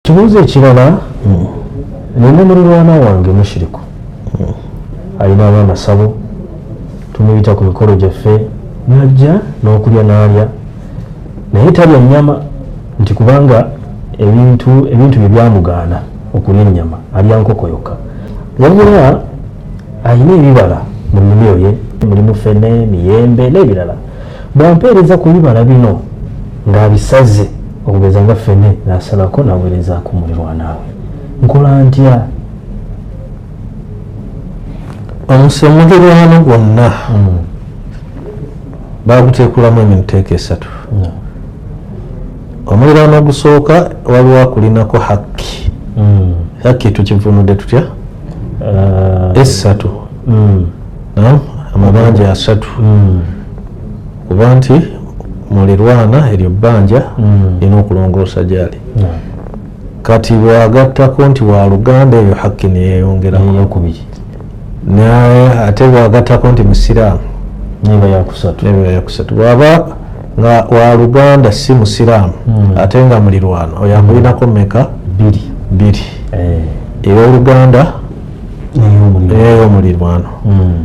ekibuuzo ekirala nina mulirwana wange mushiriku alina abaana sabo tumuyita ku mikolo gyaffe najja n'okulya n'alya naye talya nnyama nti kubanga ebintu ebintu bye byamugaana okulya ennyama alya nkoko yokka wabula alina ebibala mu nnimiro ye mulimu fene miyembe n'ebirala bwampeereza ku bibala bino ng'abisaze okugeza nga fene nasalako nawerezaako mulirwanaawe nkola ntya omusemulirwano gwonna hmm. bagutekulamu emiteeka esatu omulirwano ogusooka waliwo akulinako hakki hmm. hakki tukivunudde tutya uh, esatu hmm. amabanja asatu kuba nti mulirwana eryo bbanja mm. lina okulongoosa gyali kati bwagattako nti waluganda eyo hakki neyeyongerakubiri naye ate bwagattako nti musiraamu neba yakusatu bwaba nga waluganda si musiraamu mm. ate nga mulirwana oyo amulinako meka biri biri eh. eyoluganda eyomulirwano mm.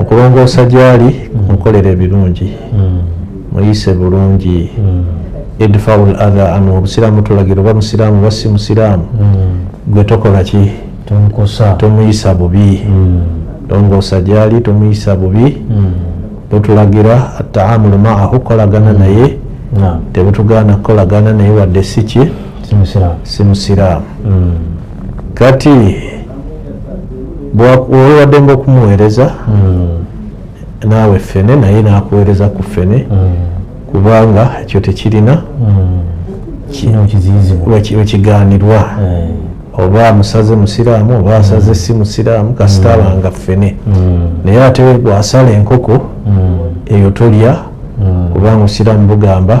okulongoosa gyali mm. mukolera ebirungi mm. muyise bulungi mm. edfaul atha an obusiraamu tulagira oba musiraamu oba si musiraamu gwe tokola ki tomuyisa bubi longoosa gyali tomuyisa bubi bwetulagira ataamulu maahu kukolagana naye tebutugaana kukolagana naye wadde si ki si musiraamu kati bwewabadde nga okumuweereza hmm. naawe ffene naye nakuweereza ku ffene hmm. kubanga ekyo tekirina wekigaanirwa oba musaze musiraamu oba asaze mm. si musiraamu kasita mm. abanga ffene mm. naye ate gwasala enkoko eyo tolya kubanga osiraamu bugamba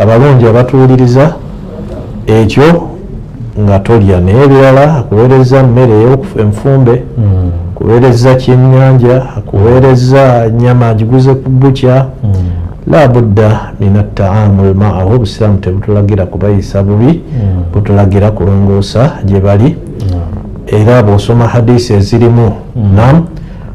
abalungi abatuwuliriza ekyo nga tolya naye ebirala akuweereza mmere enfumbe hmm. kuweereza kyenyanja akuweereza nyama agiguze ku bukya hmm. labudda min ataamu lmaahu obusiraamu tebutulagira kubayisa bubi hmm. butulagira kulongoosa gye bali era bwosoma hadisi ezirimu nam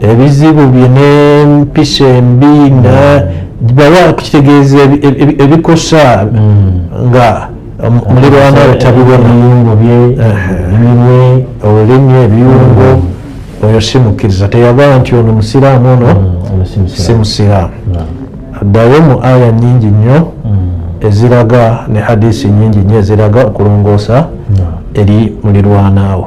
ebizibu bye n'empisa embi bawa kukitegeeza ebikosa hmm. nga mulirwana otabibonayungo bye eminwe olulimi ebiyungo oyo si mukkiriza teyaba nti ono musiraamu ono hmm, si musiraamu hmm. addayo mu aya nyingi nnyo eziraga ne hadisi nyingi nnyo eziraga okulongoosa eri mulirwanaawo